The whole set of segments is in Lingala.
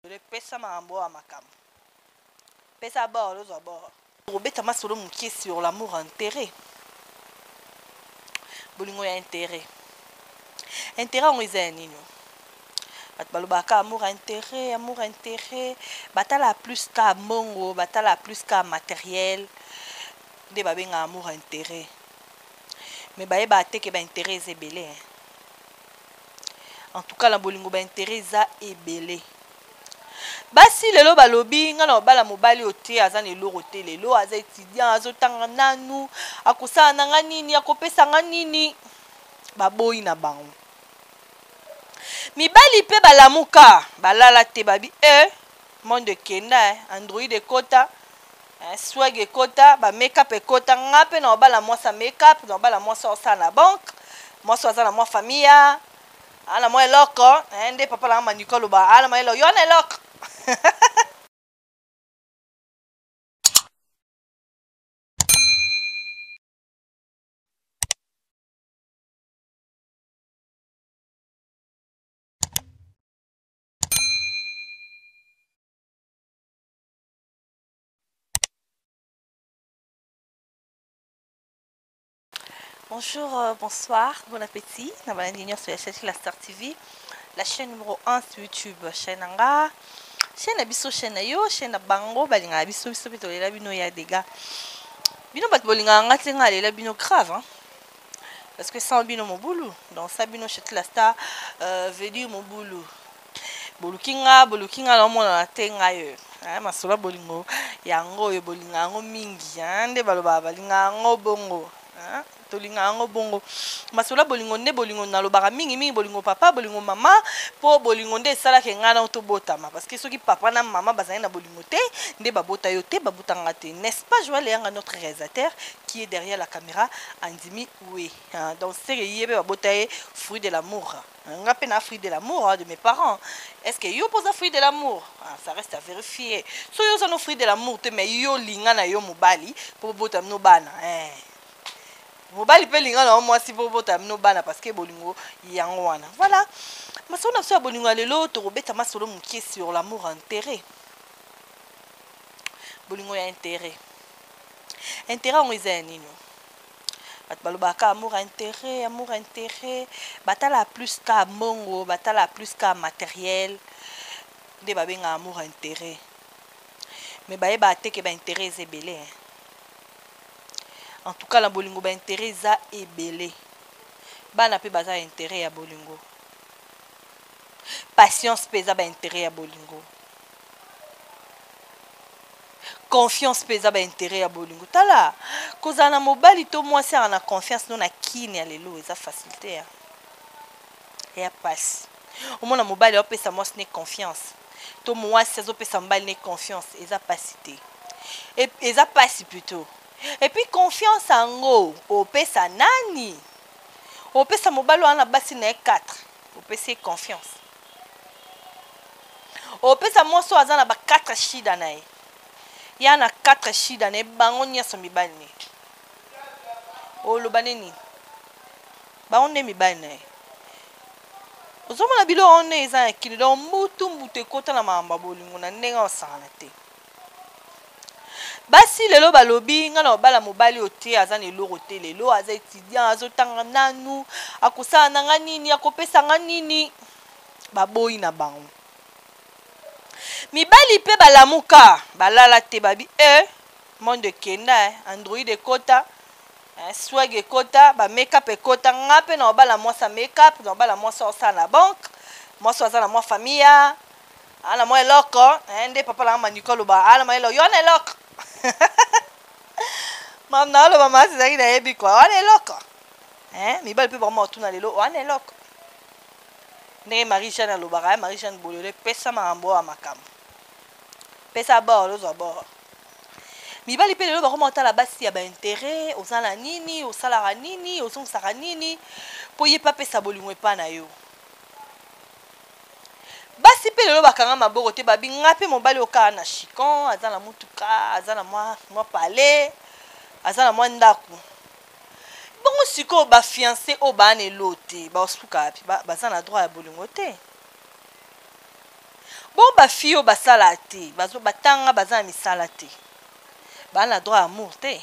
Dole pesa makambo oyo ya makambo. Pesa bord ozwa bord. Kobeta masolo mokie sur l'amour intérêt. Bolingo ya intérêt. Intérêt yango eza ya nini? bato balobaka amour intérêt amour intérêt batala plus ka mbongo batala plus ka matériel nde babengaka amour intérêt me bayebaka te ke baintérêt eza ebele en tout cas na bolingo ba intérêt eza ebele basi lelo balobi nga na obala mobali oyo te aza na eloko te lelo aza étudiant azotanga nanu akosala na nga nini akopesa nga nini baboyi na bango mibali mpe balamuka balala te babi e eh, monde ekenda eh, android ekota Eh, swag ekota ba makeup ekota nga mpe na obala mwasi ya makeup na obala mwasi osala na banque mwasi aza na mwa famille ya ana mwa eloko eh, nde papa nanga maniko aloba ana mwa eloko yo na eloko Bonjour, euh, bonsoir, bon appétit. Na bana nini sur chercher la Star TV, la chaîne numéro 1 sur YouTube, chaîne anga. Chaîne abisso chaîne na yo, chaîne na bango balinga abisso bisso pe tolela bino ya dega. Bino bat bolinga nga te nga lela bino grave hein. Parce que sans bino mobulu, dans ça bino chercher la Star euh, veut dire mobulu. boluki nga boluki nga naomonana te ngai oyo eh, masolo ya bolingo yango oyo bolinga yango mingi eh, nde balobaka balinga yango bongo eh, tolinga yango bongo masolo ya bolingo nde bolingo nalobaka mingi mingi bolingo papa bolingo mama mpo bolingo nde esalaka engai nao tobotama parce que soki papa na mama bazali na bolingo te nde babota yo te babuta nga te n'est-ce pas joel eyanga notre réalisateur qui est derrière la caméra andimi oui donc seke ye mpe babota ye fruit de l'amour Nga pe na fruit de l'amour de mes parents est ce que yo pe oza fruit de l'amour ah, ça reste à verifier so yo oza no fruit de l'amour te mais yo linga na yo mobali po bobota mino bana eh. mobali pe linga na yo mwasi po bobota mino bana parce que bolingo yango wana voilà masolo na biso ya bolingo ya lelo tokobeta masolo mokie sur l'amour intérêt bolingo ya intérêt intérêt yango eza ya nini Batu balobaka kaka amour ya interet, amour ya interet, batalaka plus kaka mbongo, batalaka plus kaka materiel, nde babengaka amour ya interet, mais bayebaka te que ba interet eza ebele hein! En tout cas na bolingo ba interet eza ebele, bana pe baza ba interet ya bolingo, patience pe eza ba interet ya bolingo. confiance mpe eza ba interet ya bolingo tala kozala na mobali to mwasi aa na confiance no na kini ya lelo eza facilité ya ya pasi omona mobali aopesa mwasi ne confiance to mwasi azopesa mobali ne confiance eza pasi te e, eza pasi plutôt epuis confiance yango opesa nani opesa mobali wana na basi na ye 4 opesi ye confiance opesa mwasi oyo aza na ba 4 shida na ye ya na 4 shida na ye bango nyonso mibali ne oloba nde nini bango nde mibali na ye ozomona biloko nde eza na kino donc mbutu mbutu ekota na makambo ya bolingo na ndenge osakana te basi lelo balobi ngai na obala mobali oyo te aza na eloko te lelo aza étudiant azotanga nanu akosala na ngai nini akopesa ngai nini baboyi na bango mibali mpe balamuka balala te babi e eh, monde ekenda eh, android ekota eh, swag ekota bamekap ekota ngai mpe na obala mwasi amekap na obala mwasi osala na banke mwasi aza na mwa famille Ala mwa eloko eh, nde papa langa maniko aloba ala mwa eloko yo wana eloko mam na aloba masi ezalaki nayebi kwa wana eloko eh, mibali mpe bakoma kotuna lelo wana eloko ndenge marie jeanne alobaka eh, marie jeanne bolole pesa makambo oyo makambo pesa bor lozwa bor mibali mpe lelo bakoma kotala basi ya baintere oza na nini osalaka nini ozongisaka nini mpo ye mpe apesa bolingo epai na yo basi mpe lelo bakanga maboko te babi nga mpe mobali okaa na chicon aza na motuka aza na mwa, mwa palais aza na mwa ndako bongo sikoyo bafianse oyo baa na elo te baosuka wapi baza na droit ya bolingo te bongo bafille oyo basala te batanga baza na misala te baa na droit ya amour te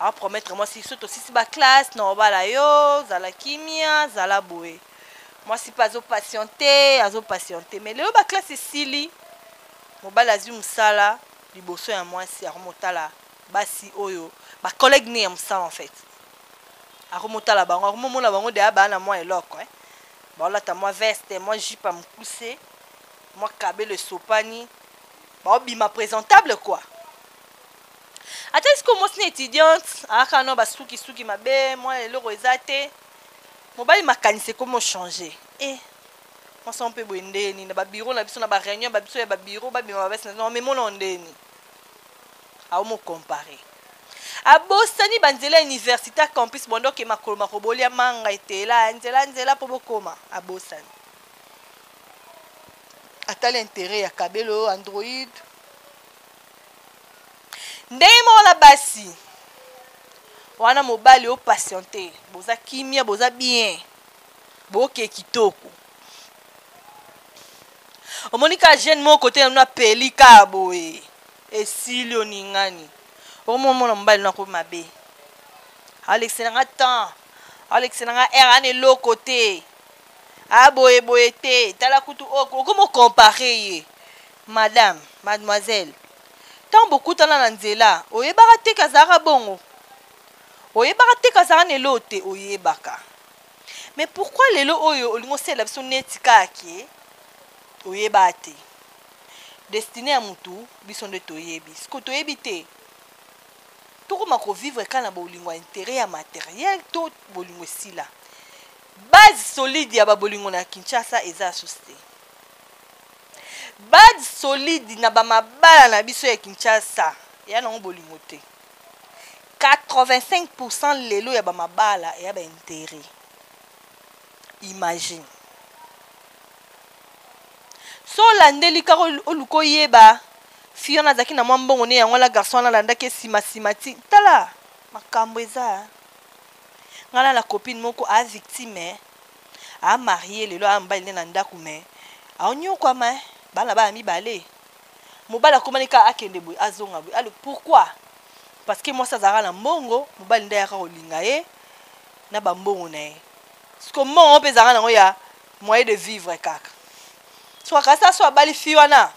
a promettre mwasi so tosisi ba classe na obala yo zala kimia zala boye mwasi mpe azo patiente azo patiente mais lelo ba classe esili mobali azwi mosala liboso ya mwasi akomotala basi oyo ba collègue ne ya mosala en fait akomotala bango akomomona bango deya baa na mwa eloko eh? baolata mwa veste mwa jipe ya mokuse mwa kabelo esopani baobima présentable quoi ata sikoyo mwasi na étudiante ayaka na basukisuki mabe mwana eloko eza te mobali makanisi ekomi ochange e eh, mwasi yango mpe boye ndeni na babiro na biso na bareunion ba biso ya babiro babima babasi na omemona o ndeni aomokompare abosani banzela ya université ya campus bondo oke makolo makobolia manga etela ya nzela nzela mpo bokoma abosani atali intere ya kabelo android ndenge moko na basi wana mobali o patiente boza kimia boza bien boke kitoko omoni ka jeune moko kote na bino apeli ka boye esili oningani okomomona mobali nako mabe alekisa na nga temps alekisa na nga aire ana eloko te aboye boye te tala kutu okomi okompare ye Madame, mademoiselle, tango bokutana na nzela, oyebaka te que azalaka bongo? Oyebaka te que azalaka na eloko te? Oyebaka. Mais pourquoi lelo oyo olingi osalela biso neti kaka que oyebaka te? Destinee ya mutu, biso nde toyebi. Sikoyo toyebi te, tokoma ko vivre kaka na bolingo ya interet ya materiel to bolingo esila? Base solide ya ba bolingo na Kinshasa eza lisusu te. Bad solide na ba mabala na biso ya Kinshasa eya nango bolingo te. 85 pourcent lelo ya ba mabala eya ba interet. Imagine. So olandeli kaka oluka oyeba fille wana azalaki na mwa mbongo ne yango wana garçon wana alandaki ye sima sima ti tala makambo eza ngai na copine moko a victime a marie lelo aya mobali ne na ndaku mais ao niokuama hein bana baya mibale mobali akomani kaka akende boye azonga boye alo pourquoi parce que mwasi azalaka na mbongo mobali nde ayaka kolinga ye na ba mbongo na ye siko mbongo yango mpe ezalaka nango ya moyen de vivre kaka siko kasi aso abali fi wana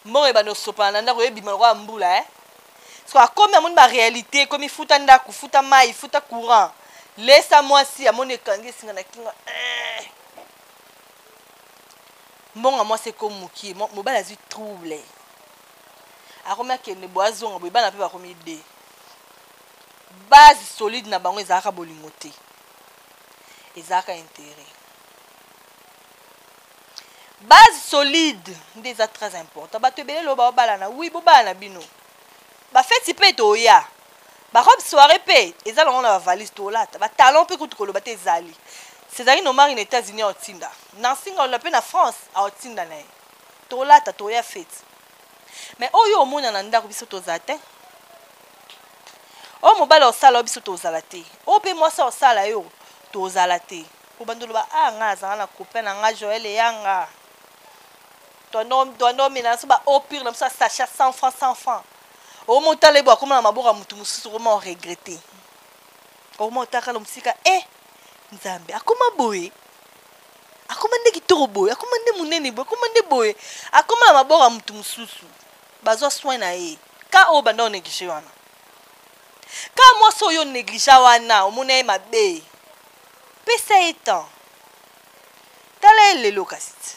mbongo ebanda osopana na ndako ebima lokola mbula eh so akomi amoni ba réalité ekomi futa ndako futa mai futa courant lesa mwasi amoni ekangi esinga na kingo eh. mbongo mwasi ekomi mokie mobali azwi trouble akomi akende boye azonga boye bana mpe bakomi de base solide na bango ezalaka bolingo te ezalaka intérêt base solide nde eza très important bato ebele lelo baobalana wi bobalana bino bafeti mpe toya barobe soirée mpe eza longo na bavalise tolata batalon mpe kutu koloba te ezali césari nomari na états-unis aotinda nansinga olola mpe na france aotinda na ye tolata toya feti me oyo omona na ndako biso toza te oyo mobali osala yo biso tozala te oyo mpe mwasi osala yo tozala te Obandi oloba ah nga nazanga na copain na nga Joël Eyanga Tuando mena naso ba eau pure na biso ya sachet 100 francs 100 francs omo otala ebo akoma na maboko ya mutu mosusu okoma o regrette okoma otaka lo mosika eh nzambe akoma boye akoma nde kitoko boye akoma nde monene boye akoma nde boye akoma na maboko ya mutu mosusu bazwa soin na ye ka oyo banda oneglige wana ka mwasi oyo onegligea wana omona ye mabe Pesa ye temps. Tala ye lelo kasi tse.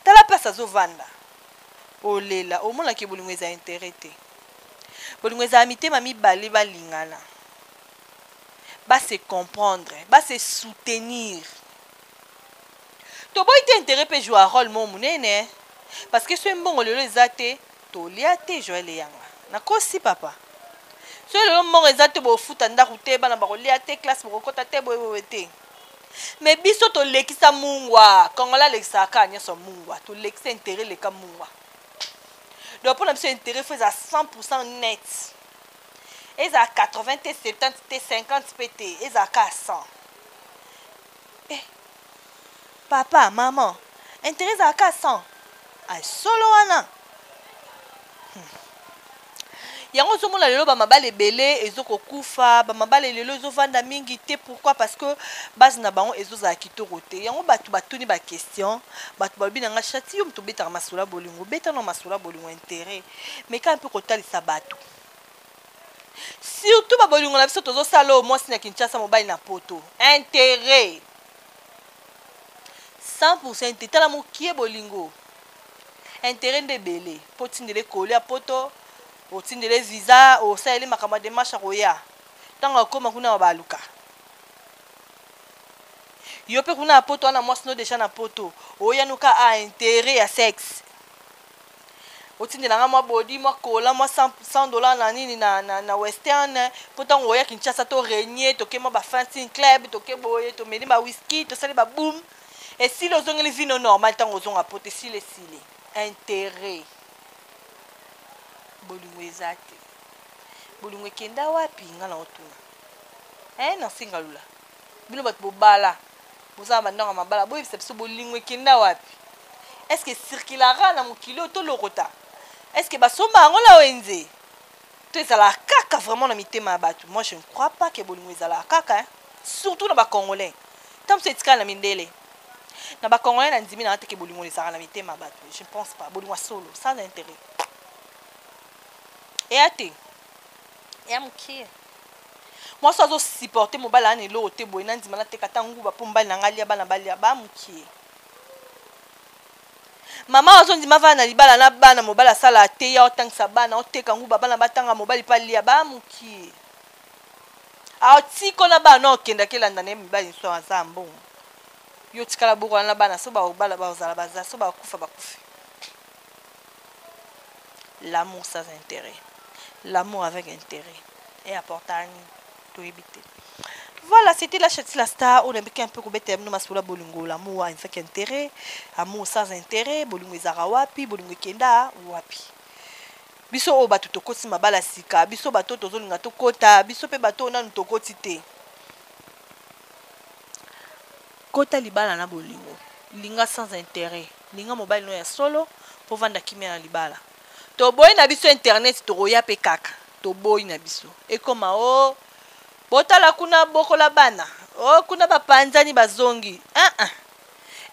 Tala place azo vanda. Olela, omona que bolingo eza interet te. Bolingo ezala mitema mibale ba lingana. Ba se comprendre, ba se soutenir. Toboyi te interet pe joua role moko munene hein. Parce que soki mbongo lelo eza te, Tolia te Joël eyanga nakosi papa soki lelo mbongo eza te bofuta ndaku te bana bakolia te classe bokokota te boye boye te mais biso tolekisa mungwa congolais alekisaka kaka nyonso mungwa tolekisa interet leka mungwa donc mpo na biso interet fo ezala 100 pourcent net ezala 80 te 70 te 50 mpe te ezala kaka 100 Eh papa maman interet ezala ka 100 ah solo wana hmm. yango ozomona lelo bamabala ebele ezokokufa bamabala lelo ezovanda mingi te pourquoi parce que base na bango ezozala kitoko te yango bato batuni baquestion bato balobi na ngai chati yo moto obetaka masolo ya bolingo obeta na masolo ya bolingo interet meka mpe kotalisa bato surtout ba bolingo na biso tozosala oyo mwasi na kinshasa mobali na poto interet 100 te tala mokie bolingo interet nde ebele mpo otindele koli ya poto otindele visa osaleli makambo ya demarche akoya ntango akoma kuna baluka yo mpe kuna ya poto wana mwasi no deja na poto oyanuka a interet ya sexe otindela nga mwa body mwa kola mwa 100 dollars na nini na, na, na western mpo ntango oya kinshasa to regne toke mwa ba fansin club toke boye tomeli ba whisky tosali ba boom esili ozongeli vino normal ntango ozonga poto esili esili interet bolingo eza te bolingo ekenda wapi nga na otuna eh, nansi ngalula bino batu bobala boza na bandako ya mabala boyebisa biso bolingo ekenda wapi est-ce que circulara na mokili oyo tolokota est-ce que basomba yango na wenze to ezalaka kaka vraiment na mitema ya bato moi je ne crois pas ke bolingo ezalaka kaka hein? surtout na bacongolais ntango mosusu etikala na mindele na bacongolais na ndimi nanga teke bolingo ezalaka na mitema ya bato je ne pense pas bolingo ya solo sans intérêt eya te ya mukie mwasi azo supporte mobali ana eloko te boye nandima nateka ata nguba mpo mobali na ngai alia bana balia ba mukie mama azondima avana na libala na bana mobali asala ateya otangisa bana oteka nguba bana batanga mobali mpe alia ba mukie aotiko na bana okendaki elanda na ye mibali nso aza mbongo yo otikala bokola na bana so baobala bazala baza so bakufa bakufi L'amour sans interet. L'amour avec interet. Et apporta nini? Toyebi te. Voilà, c'était la chatine la star. On a un peu comme thème, nous masula bolingo, l'amour avec intérêt, amour sans intérêt, bolingo ezara wapi, bolingo kenda wapi. Biso o batu tokoti mabala sika, biso bato tozolinga tokota, biso pe bato nanu tokoti te. Kota libala na bolingo. Linga sans interet. Linga mobali no ya solo po vanda kimia na libala. Toboyi na biso internet tokoya pe kaka. Toboyi na biso. Ekoma oh botala kuna bokola bana oh kuna ba panzani ba zongi eeh.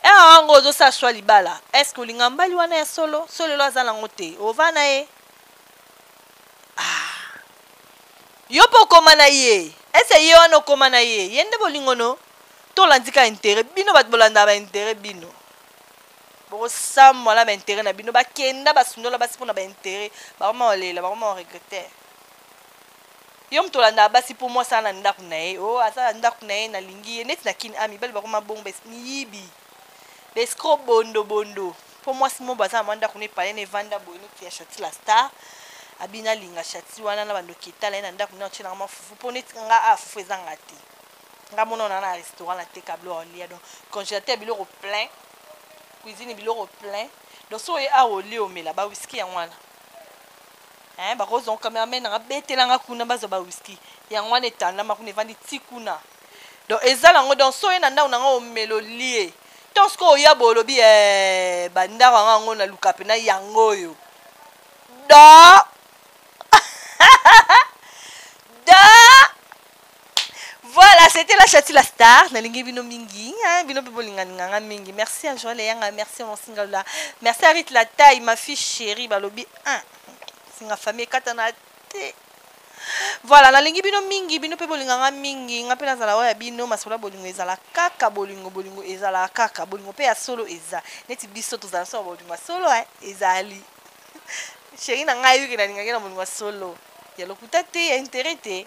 Heure yango ozo sala choix libala est-ce que olinga mbali wana ya solo? Soki lelo aza nango te ova na ye? Aah. Yo pe okoma na ye? Est-ce ye wana okoma na ye? Ye nde bolingo no? tolandi ka intere bino bato bolandaka baintere bino bokosamwa na baintere na bino bakenda basundola basi mpo na baintere bakoma kolela bakoma koregrete yo moto olandaka basi mpo mwasi ana ndako na ye o oh, aza na ndako na ye nalingi ye neti na kini a ah, mibali bakoma bongo miyibi bescro bondo bondo mpo mwasi mobo aza na mwa ndako na epalene evanda boye neti ya chati la star abina alinga chati wana na bandoki etala ye na ndako na otye nanga mwa fufu mpo neti nga a ah, fufu ezanga te nga mona ona na restaurant na teka biloko olia donc congélateur biloko plein cuisine biloko plein donc so oye awa olie omela ba whisky yango wana hein bakozwa cameraman nanga betela nga kuna bazwa ba whisky yango wana etandama kuna evandi ti kuna donc eza nango donc so oye na ndako nanga omela olie to sikoyo oya boye olobi eh, bandako yango yango naluka mpena yango oyo do Voilà, c'était la chati la star. Nalingi bino mingi, hein, bino pe bolinga nganga mingi. Merci à Joël Yanga, merci à mon single là. Merci à Rite la taille, ma fille chérie, balobi. Hein. Singa famille katana te. Voilà, nalingi bino mingi, bino pe bolinga nga mingi. Nga pe nazala oya bino masola bolingo ezala kaka bolingo bolingo ezala kaka bolingo pe ya solo eza. Neti biso tozala solo bolingo ya solo hein, ezali. Chérie na ngai yuki nalingaki na bolingo ya solo. Ya lokuta te, ya intérêt te.